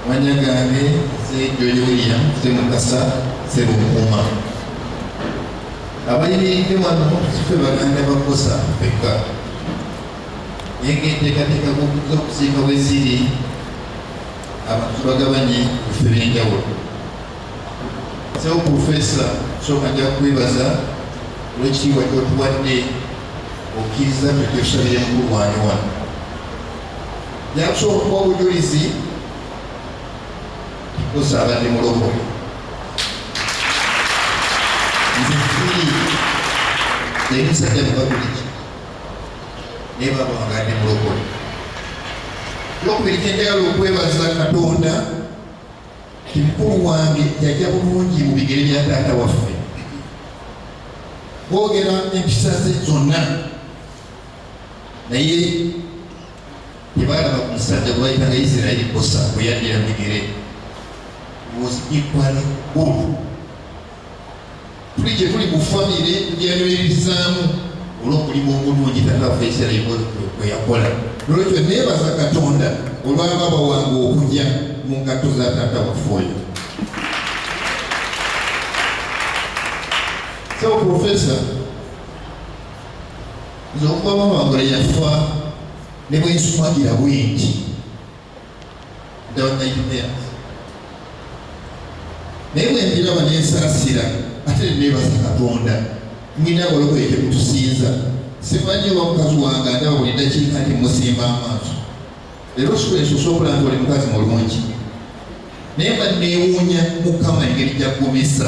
Manya gange Ssejoyi William Ssemukasa Ssebukuuma. Abayimiridde wano sife baganda bakosa fekka naye ng'enteekateeka g'okuza okusiika bwe ziri abantu bagabanye efe b'enjawulo. Sebo Pulofeesa sooka nja kukwebaza olw'ekitiibwa ky'otuwadde okkiriza ffe kyosabire mukulu wange wano. yakusobola okuba obujulizi kusaba ndi mulokole nzifiri emisajja mubabuliki naye babanga ndi mulokole lwokubiri kyenjagala okwebaza katonda kimukulu wange yajja bulungi mu bigere bya taata waffe boogera empisa ze zonna naye tebaalaba ku musajja gwe bayitanga isirairi bosa bwe yaddira migere was equally good tuli gye tuli mu famire tujaniririzaamu olw'omulimu omulungi tatafa isirairi bwe yakola nolwekyo neebaza katonda olwababa wange okuja mu ngatto za taata waffe oyo so professor nze okuba mama wange yafa ne bwe nsumagira bwingi ddala nayitumeya naye bwe mbiraba ne nsaasira ate ne neebaza katonda mwina abalokoye temutusinza simanyi oba mukazi wange andaba buli ddakiika nti musimba amaaso leero sula ensuusa okulaba nti oli mukazi mulungi naye mba neewuunya mukama engeri gyagumisa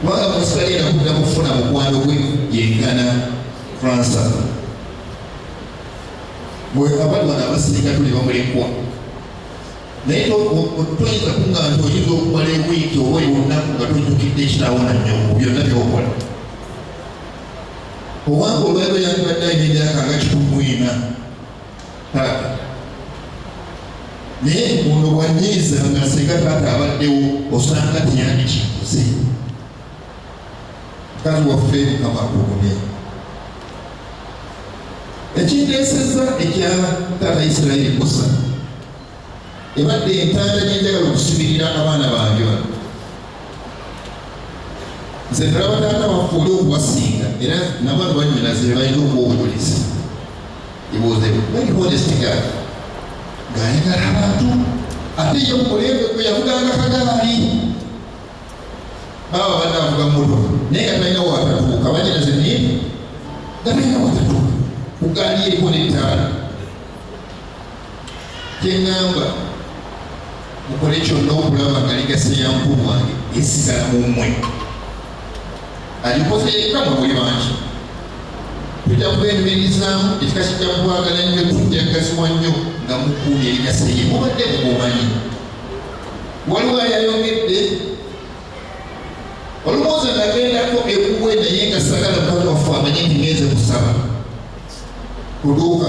kubanga mu nsi bagenda kudda kufuna mukwano gwe yenkana fransa mwe abantu bano abasinga tuli bamulekwa naye toyinza kunga nti oyinza okumala ewiiki oba olunaku nga tojjukidde ekitawo na nyongo byonna byokola owange olwaliro yandibadde ayina emyaka nga kikumuina taata naye ono wanyiiza nga singa taata abaddewo osanga teyandikikoze mukazi waffe mukama akugume ekindeeseza ekya taata isirairi kusa ebadde entanda gyenjagala okusibirira abaana bange bano nze nalaba taata waffe oli okubasinga era nabo abanyinazi bebalina okuwa obubulizi He was a very honest guy. Ng'ayagala abantu ate ye mulembe gwe yavuganga kagaali. Baaba badde avuga mmotoka naye nga talina waatatuuka banyina ze naye nga talina waatatuuka ku gaali eriko n'ettaala. kyeŋŋamba mukole kyonna okulaba nga ligasa ya mukulu wange esigala mu mmwe agikoze yekka mu buli bangi tujja kuba emiririzaamu ekika kijja kukwagala nnyo tujja kugaziwa nnyo nga mukuumye ligasa ye mubadde mugomanyi waliwo ayayongedde olumwoza nagendako ekuwe naye nga sagala mukama waffe amanye nti ngenze kusaba kuduuka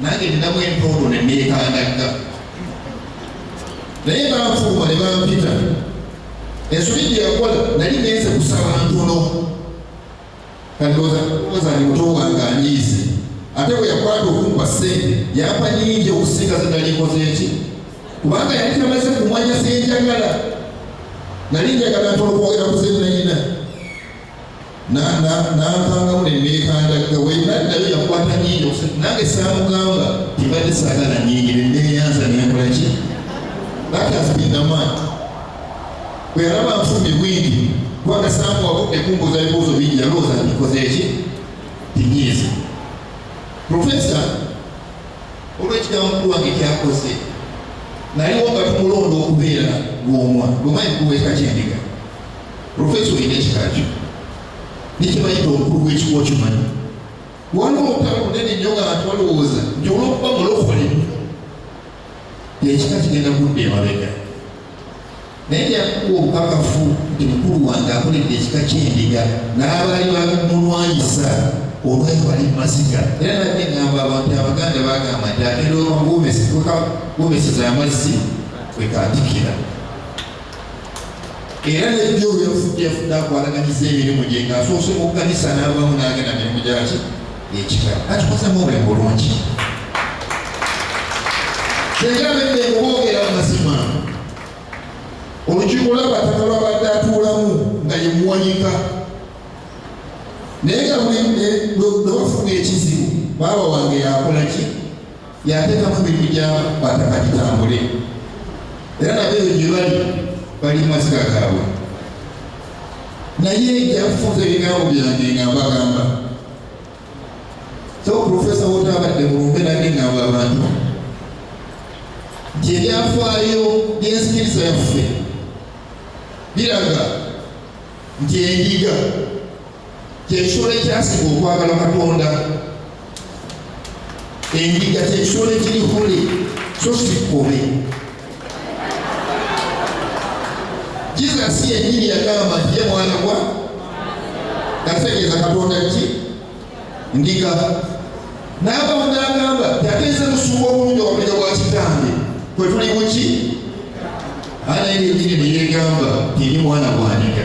nange ninamu empoodo ne neekangagga naye banfuuma ne bampita ensobi gye yakola nali ngenze kusaba ntono kandooza ni muto wange anyiize ate bwe yakwata okumpa ssente yampa nyingi okusinga ze nali nkoze eki kubanga yali tamaze kumanya senjagala nali njagala ntono kwogera ku zenayina n'ankangamu ne neekandagga wenna nayo yakwata nyingi okusatu nange saamugamba tibadde saagala nyingi ne neeyanza ne nkola ki that has been the man bwe yalaba nfumye bwingi kubanga saamu wabudde kumbuuza ebibuuzo bingi yalowooza ntikoze ki tinyiiza profesa olw'ekigambo mukulu wange kyakoze naliwo nga tumulonda okubeera lwomwa lwomanyi kuweeka kyendiga Profesa olina ekikakyo nekyebayita obukulu bw'ekika okimanyi waliwo obutala bunene nnyo nga bantu balowooza nti olwokuba mulokole ekika kigenda kudda emabega naye yakuwa obukakafu nti mukulu wange akoledde ekika kyendiga n'abaali bamulwanyisa olwayo bali mumaziga era nabye ngamba abantu abaganda bagamba nti agenda okamugomeseza amazzi kwekatikira era nebyo yafudde yafudde akwalaganyiza emirimu gye nga asoose mu kanisa n'abamu n'agenda mirimu gyaki ekika akikosamu obulamu bulungi senga abedde ngoboogera amazima olukiiko lw'abataka lwabadde atuulamu nga yemuwanika naye nga buli lwebafuga ekizibu baaba wange yakolaki yateekamu emirimu gya bataka gitambule era nabo ebyo gye bali bali mu masika gaabwe naye yafunza ebigambo byange nga mbagamba so profesa wotabadde mulumbe nange ngamba abantu nti ebyafaayo by'ensikiriza yaffe biraga nti endiga kyekisolo ekyasinga okwagala katonda endiga kyekisolo ekiri hole so sikkobe jesus yenyini yagamba nti ye mwana gwa nategeeza katonda ki ndiga naabawunda agamba yateeze musumba obulungi obuliro bwa kitange kwe tuli buki anaye yenyini neyegamba tiri mwana gwandiga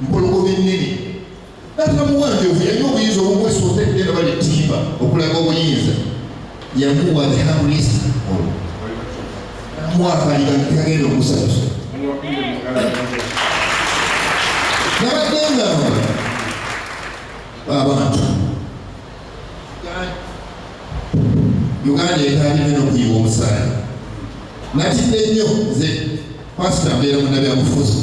mpologoma ennene natta muwanjovu yalina obuyinza obumwesa otegge nga bali ttimba okulaga obuyinza yamuwa the hamulisa mwakaliga nti agenda okusanyusa nabadde ngamba abantu uganda etandika nokuyiwa omusaayi natidde nnyo nze pasita mbeera munabyabufuzi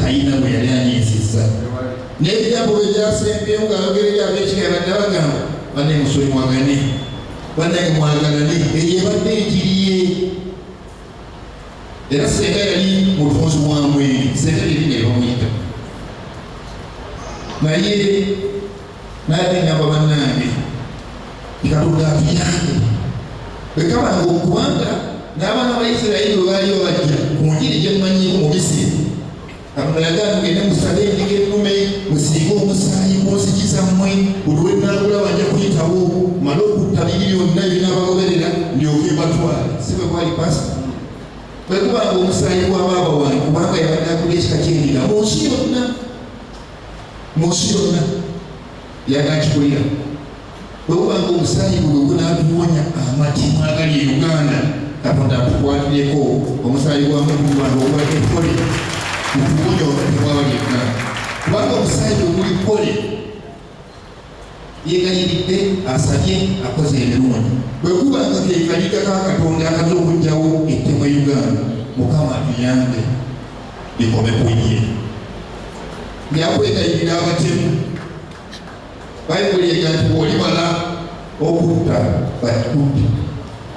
talina bwe yali anyiizizza n'ebigambo bye byasembyeyo ng'ayogera eri ab'ekika badde bagamba banne musuli mwagane bannange mwagalane eyo ebadde enjiri ye era senga yali mutunzi wa mwenge senga yali ne bamuyita naye naye nengamba bannange katonda atuyambe bwekaba nga okubanga n'abaana ba isirayiri bwe baaliyo bajja ku njiri gye mmanyiiko mu misiri katonda yagamba ngende musale endiga ennume musiige omusaayi ku nzigi zammwe buli wennaagula banja kuyitawo male okutta biri byonna ebinaabagoberera ndyoke mbatwale si bwe kwali pasi bwe kubanga omusaayi gwa baaba wange kubanga yabadde akulya ekika ky'endiga mu nsi yonna mu nsi yonna yagakikulira bwewubanga omusaayi guno gunatuwonya amatimu agali e uganda katonda atukwatireko omusaayi gwa mutuwano ogwali ekole mutuwonya olwatewabali e uganda kubanga omusaayi oguli kole yeegayiridde asabye akoze ebirungi bwe kuba nga keekaliga ka katonda akaza okugyawo ettemu e uganda mukama tuyambe bikome ku ye yakwegayirira abatemu bayibuli ega nti bwolimala okutta bakikubbi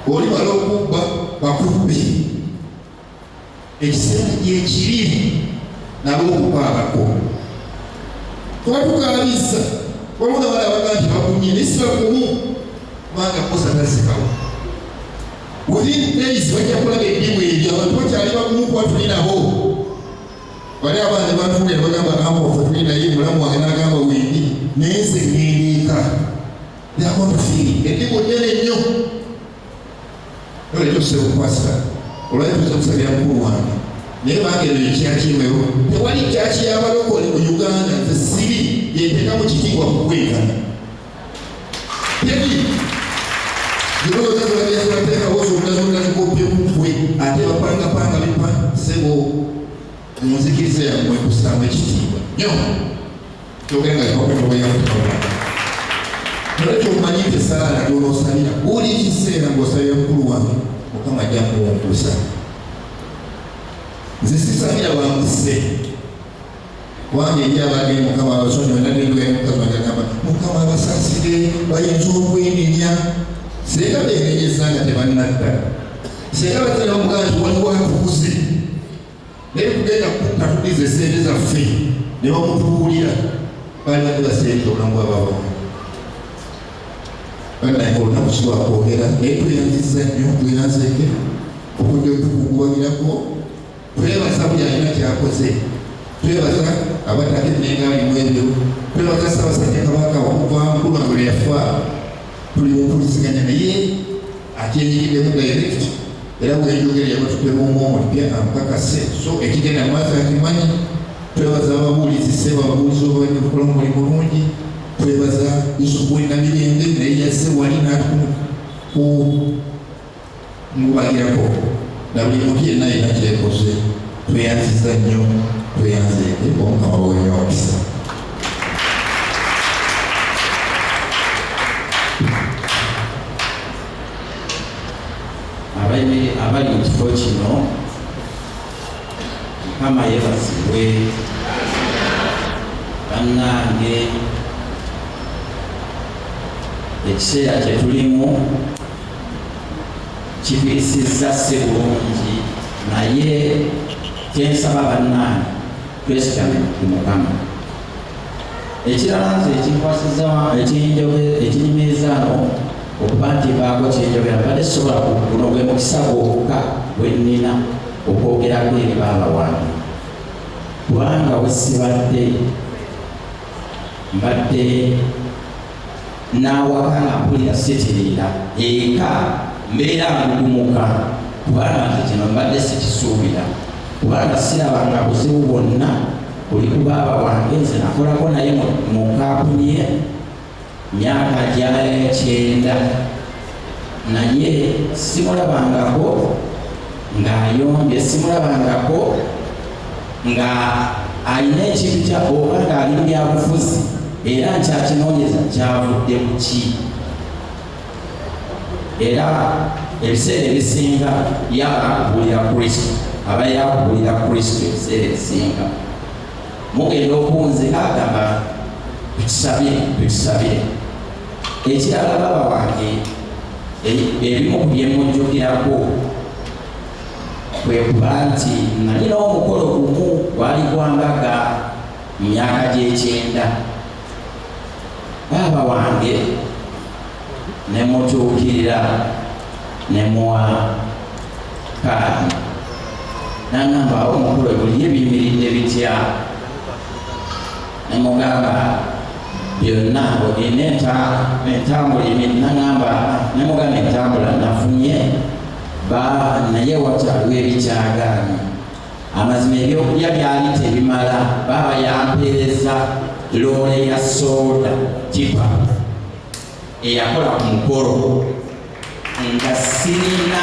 bwolimala okubba bakubbi ekisente gyekiri nabo okukwabako kuba tukaabizza waliwo nabala abaga nti bakumye naye sibakumu kubanga kosa tazikawo within days bajja kulaga edimu ebyo abantu bakyali bakumu kuba tuli nabo wali abaana batuulira bagamba amofe tuli naye mulamu wange nagamba wendi naye nze ngendeeka nakono fii edimu nene nnyo Kale kyose bukwasa olwali tuza kusabira mukulu wange naye bange eyo ekyakiwewo tewali kyaki yabalokole mu uganda nze sibi yenteka mu kitiibwa kukwegana tebi zinoozazulabyazulateekawo zonna zonna zikoppye kukwe ate bapangapanga bipa sebo munzikiriza yammwe kusamba ekitiibwa nyo Kyogeranga Yehova ekyoba yakutabula. Nolwekyo omanyi nti esaala gy'onoosabira buli kiseera ng'osabira mukulu wange Mukama ajja kuwungusa. Nze sisabira bamuse kubanga eri abagee Mukama abasonyi onadendwayo mukazi wange agamba Mukama abasasire bayinza okwenenya singa benenyeza nga tebannadda singa batera omuganda waliwo atukuze naye kugenda kukka tudiza esente zaffe ne bamutubuulira baali bagula sente obulamu bwababamu banaye olunaku kiwakwogera naye tweyanziza nnyo tweyanzeke okudde otukunguwagirako twebaza buli alina kyakoze twebaza abataka enengaalimu ebyo twebaza sabasajja kabaka okuva mukulu wange lwe yafa tuli mumpuliziganya naye akyenyigiddemu direct era wenjogera yabatuddemu omwomo lupya amukakase so ekigenda maaso akimanyi twebaza ababuulizi sebo ababuulizi obabadde bukola omuli mulungi twebaza yusufu wenamirembe naye yazze wali natuku ku mubagirako na buli muntu yenna yena kyekoze tweyanziza nnyo tweyanzeete omukama wonywa omukisa abali mu kifo kino mukama yebazibwe bannange ekiseera kyetulimu kifirisiza si bulungi naye kyensaba bannange twesigame mukama ekirala nze ekinkwasiza ekinjoge ekinyumiriza no okuba nti mbaako kyenjogera mbadde sisobola guno gwe mukisa gwokka gwe nnina okwogerako eri baaba wange kubanga wesibadde mbadde n'awaka nga mpulira sitiriira eka mbeera ngugumuka kubanga nze kino mbadde sikisuubira kubanga sirabanga buzibu bwonna Oli ku baaba wange nze nakolako naye mu kampuni ye myaka gya kyenda naye simulabangako ng'ayombye simulabangako nga alina ekintu kya oba ng'ali mu byabufuzi era nkyakinoonyeza kyavudde ku ki era ebiseera ebisinga yaba kubulira kristo aba yakubulira kristo ebiseera ebisinga mugenda okunzika agamba tukisabire tukisabire ekirala baba wange ebimu ku byemujjukirako kwe kuba nti nalina omukolo gumu gwali gwambaga mu myaka gy'ekyenda baaba wange ne mutuukirira ne muwa kaadi nangamba awo omukulu ebuliye biyimiridde bitya nemugamba byonna olina entambula emiri nangamba nemugamba entambula nafunye ba naye wakyaliwo ebikyagaanyi Amazima ebyokulya byali tebimala, baaba yampeereza loole ya sooda tipa eyakola ku mukolo nga sirina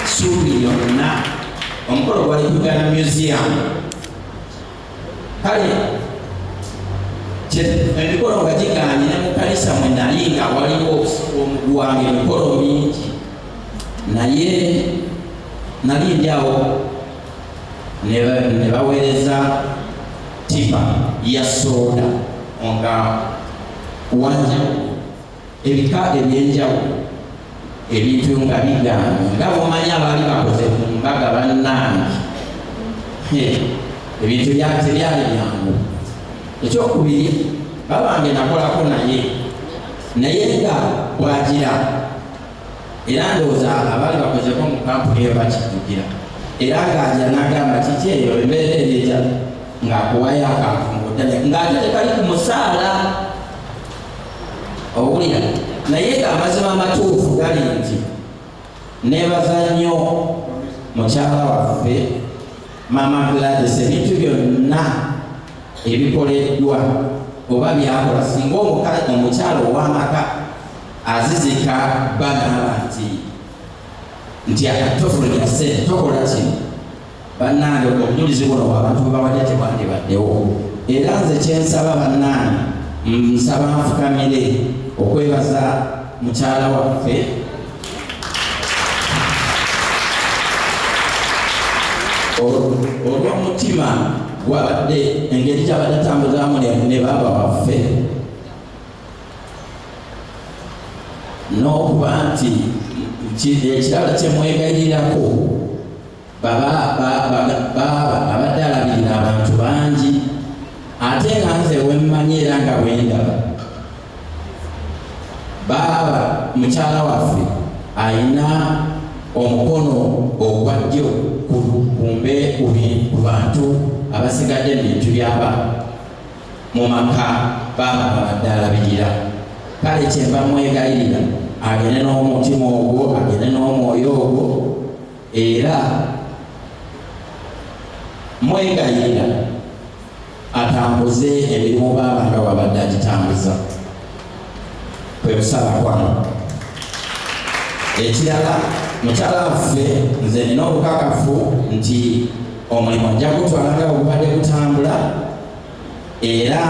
suubi yonna. Omukolo gwali kugana museum kale emikolo nga gigaanye ne mu kanisa mwe nali nga waliwo omuguwange emikolo mingi naye nali ndyawo ne baweereza tipa ya sooda nga wanjawulo ebika ebyenjawulo ebintu nga bigaana nga bwomanyi abaali bakoze ku mbaga bannange ebintu tebyali byangu ekyokubiri babange nakolako naye naye nga bwagira era ndowooza abaali bakozeko mu kampuni eyo bakijjukira era ng'aja n'agamba kiki eyo embeera eryeta ng'akuwayo akantu mu butale ng'ate tekali ku musaala owulira naye ng'amazima amatuufu gali nti neebaza nnyo mukyala waffe maama gladis ebintu byonna ebikoleddwa oba byakola singa omukyala ow'amaka azizika bba n'aba nti nti akatofu lya ssente tokola kino bannange obujulizi buno bwabantu bwebawadde tebwandibaddewo era nze kyensaba bannange nsaba nfukamire okwebaza mukyala waffe olw'omutima gwabadde engeri gyabadde atambuzaamu ne baaba waffe n'okuba nti ekirala kye mwegayirirako baba abadde alabirira abantu bangi ate nga nze wemmanyi era nga bwendaba baaba mukyala waffe alina omukono ogwa ddyo kumbe ku bantu abasigadde mu bintu by'abaana mu maka baaba babadde alabirira kale kyemba mwegayirira agende n'omutima ogwo agende n'omwoyo ogwo era mwegayirira atambuze emirimu baaba nga wabadde agitambuza kwe kusala kwano ekirala mukyala waffe nze nina obukakafu nti omulimu ajja gutwala nga ogubadde gutambula era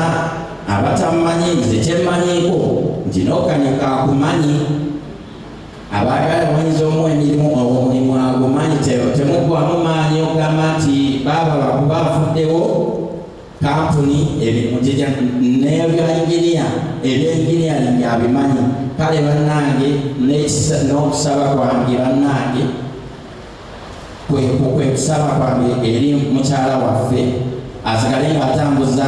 abatamumanyi nze kyemmanyiko nti n'okanya kakumanyi abaagala omanyiza omu emirimu omulimu agumanyi temuggwamu maanyi okugamba nti baaba bakuba afuddewo kampuni ebirimu gija nebya inginiya ebyenginiyalindi abimanyi kale bannange n'okusaba kwange bannange kwekusaba kwange eri mukyala waffe asigale ng'atambuza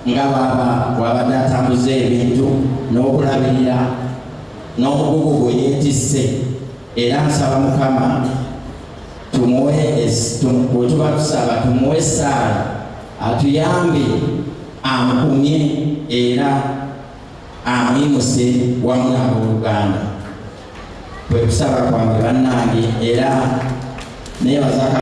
nga baaba wabadde atambuza ebintu n'okulabirira n'omugugu gwe yeetisse era nsaba mukama tumuwe bwetuba tusaba tumuwe essaala atuyambe amukumye era amuyimuse wamu n'abooluganda kwe kusaba kwange bannange era nebaza